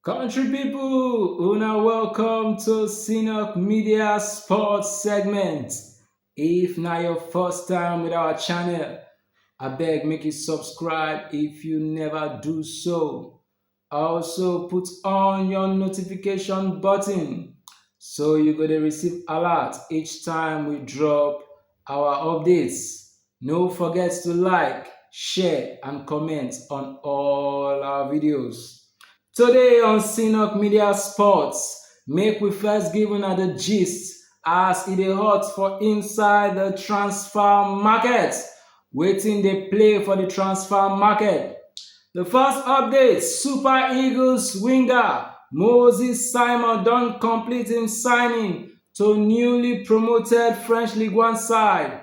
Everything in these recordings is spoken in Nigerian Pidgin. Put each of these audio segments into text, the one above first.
Country people, una welcome to Synok Media Sports segment. If na your first time with our channel, abeg make you subscribe if you never do so. Also put on your notification button so you go dey receive alert each time we drop our updates. No forget to like, share and comment on all our videos. Today on Synok Media Sports, make we first give una the gist as e dey hot for inside the transfer market. Wetin dey play for the transfer market? The first update, Super Eagles winger Moses Simon don complete im signing to newly promoted French Ligue 1 side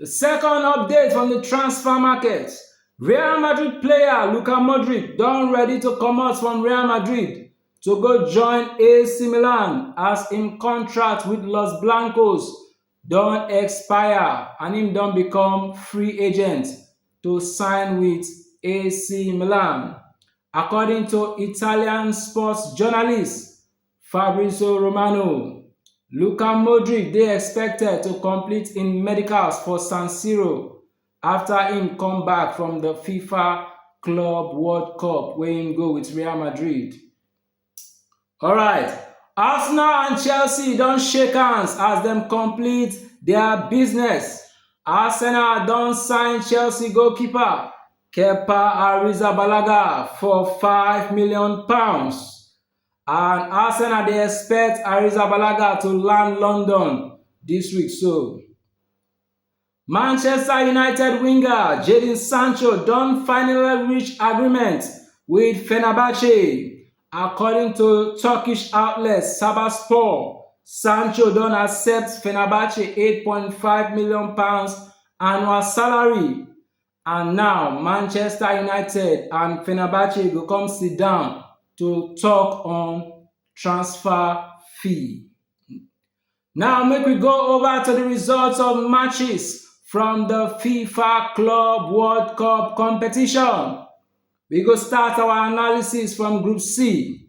The second update from the transfer market, Real Madrid player Luka Modric don ready to comot from Real Madrid to go join AC Milan as im contract with Los Blancos don expire and im don become free agent to sign with AC Milan. According to Italian sports journalist Fabrizio Romano, Luka Modric dey expected to complete im medicals for San Siro after im come back from the FIFA Club World Cup wey im go with Real Madrid. Alright, Arsenal and Chelsea don shake hands as dem complete their business. Arsenal don sign Chelsea goalkeeper Kepa Arrizabalaga for £5 million. And Arsenal dey expect Arrizabalaga to land London dis week so. Manchester United winger Jadon Sancho don finally reach agreement with Fenerbahce. According to Turkish outlet Sabaspor, Sancho don accept Fenerbahce £8.5 million annual salary And now Manchester United and Fenerbahce go come sit down to talk on transfer fee. Now make we go over to the results of matches from the FIFA Club World Cup competition. We go start our analysis from Group C.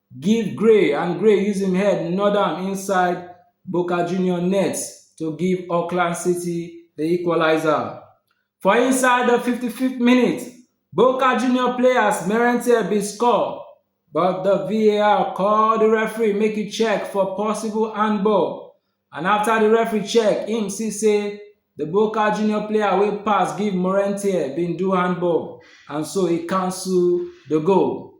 give Gray and Gray use im head nod am inside Boca Junior net to give Auckland City the equalizer. For inside the 55th minute, Boca Junior players Merentier bin score, but the VAR call the referee make e check for possible handball, and after the referee check, im see say the Boca Junior player wey pass give Morentier bin do handball, and so e cancel the goal.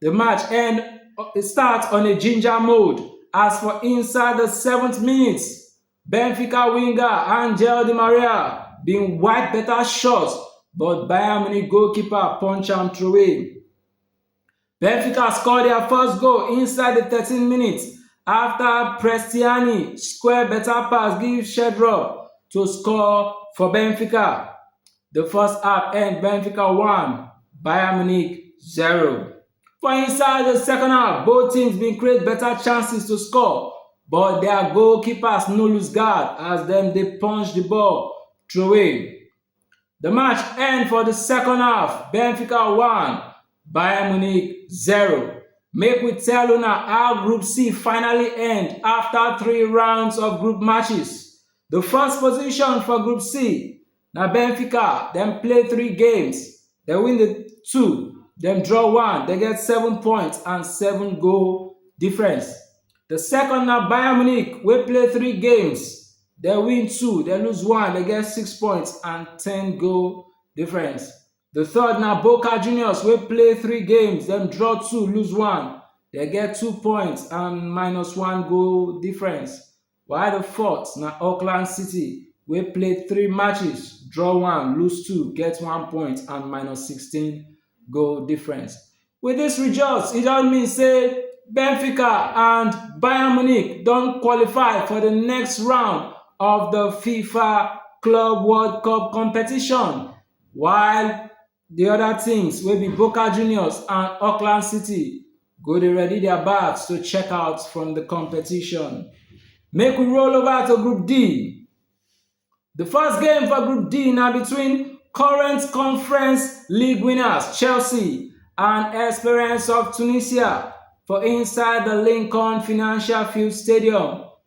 Di match end start on a ginger mode as for inside di 7th minute, Benfica winger Angel Di Maria bin wipe beta shot but Bayern Munich goalkeeper punch am throway. Benfica score dia first goal inside di 13 minutes afta Prestiani square beta pass give Sherdrop to score for Benfica. Di first half end Benfica one, Bayern Munich zero. For inside di second half, both teams bin create beta chances to score but dia goalkeepers no lose guard as dem dey punch di ball throway. Di match end for di second half, Benfica one, Bayern Munich zero. Make we tell una how Group C finally end afta three rounds of group matches. Di first position for Group C Na Benfica, dem play three games, dem win the two, dem draw one, dem get seven points and seven goal difference. The second na Bayern Munich wey play three games, dem win two, dem lose one, dem get six points and ten goal difference. The third na Boca Juniors wey play three games, dem draw two, lose one, dem get two points and minus one goal difference. while di fourth na auckland city wey play three matches draw one lose two get one point and minus sixteen goal difference wit dis results e don mean say benfica and bayern munich don qualify for di next round of di fifa club world cup competition while Di oda teams wey be Boca Juniors and Auckland City go dey ready dia bags to check out from di competition. Make we roll over to Group D. Di first game for Group D na between current Conference League winners Chelsea and Esperance of Tunisia for inside di Lincoln Financial Field Stadium.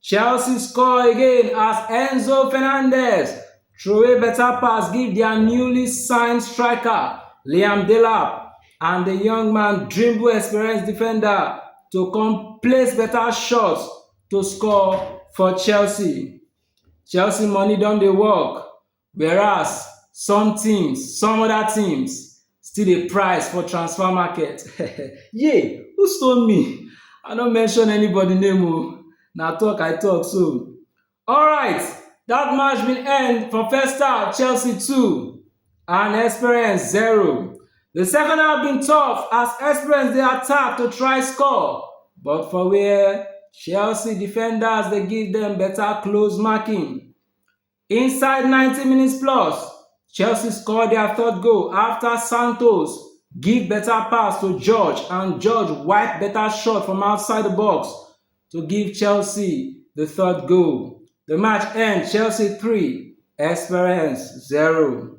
Chelsea score again as Enzo Fernandez throway better pass give their newly signed striker Liam Delap and the young man dribble experienced defender to come place better shots to score for Chelsea. Chelsea money don dey work Whereas, some teams, some other teams still dey price for transfer market. Yay! Who stone me? I no mention anybody name o, na talk I talk so. Alright, that match bin end for first half Chelsea two and Experience zero. The second half bin tough as Experience dey attack to try score but for where Chelsea defenders dey give dem better close marking. Inside ninety minutes plus, Chelsea score dia third goal afta Santos give beta pass to George and George wipe beta shot from outside di box to give Chelsea di third goal. Di match end Chelsea three, Esperance zero.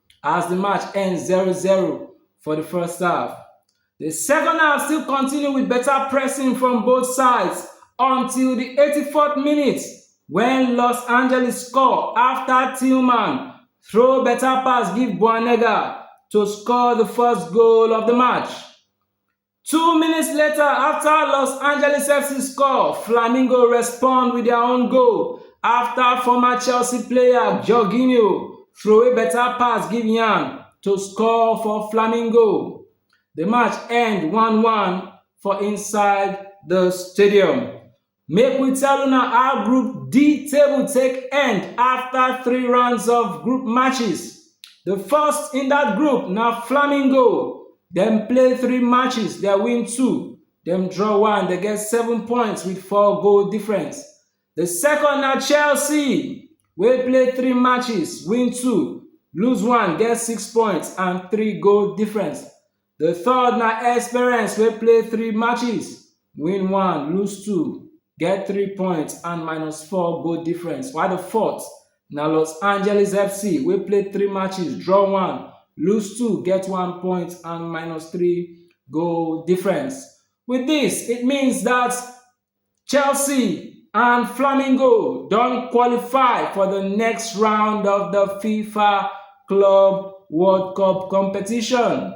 as di match end zero zero for di first half. Di second half still continue with better pressing from both sides until di 84th minute when Los Angeles score after Tillman throw better pass give Boanega to score the first goal of the match. Two minutes later, after Los Angeles FC score, Flamingo respond with their own goal after former Chelsea player Jorginho throw a better pass give Yan to score for Flamingo. The match end 1-1 for inside the stadium. Make we tell una how Group D table take end afta three rounds of group matches. Di first in dat group na Flamingo, dem play three matches, dem win two, dem draw one, dem get seven points wit four goal difference. Di second na Chelsea wey play three matches, win two, lose one, get six points and three goal difference. The third na Esperance wey play three matches, win one, lose two, get three points and minus four goal difference. While the fourth na Los Angeles FC wey play three matches, draw one, lose two, get one point and minus three goal difference. With this, it means that Chelsea and Flamengo don qualify for the next round of the FIFA Club World Cup competition.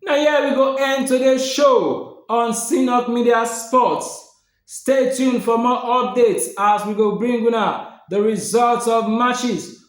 Now here we go end today's show on Sinok Media Sports. Stay tuned for more updates as we go bring una the results of matches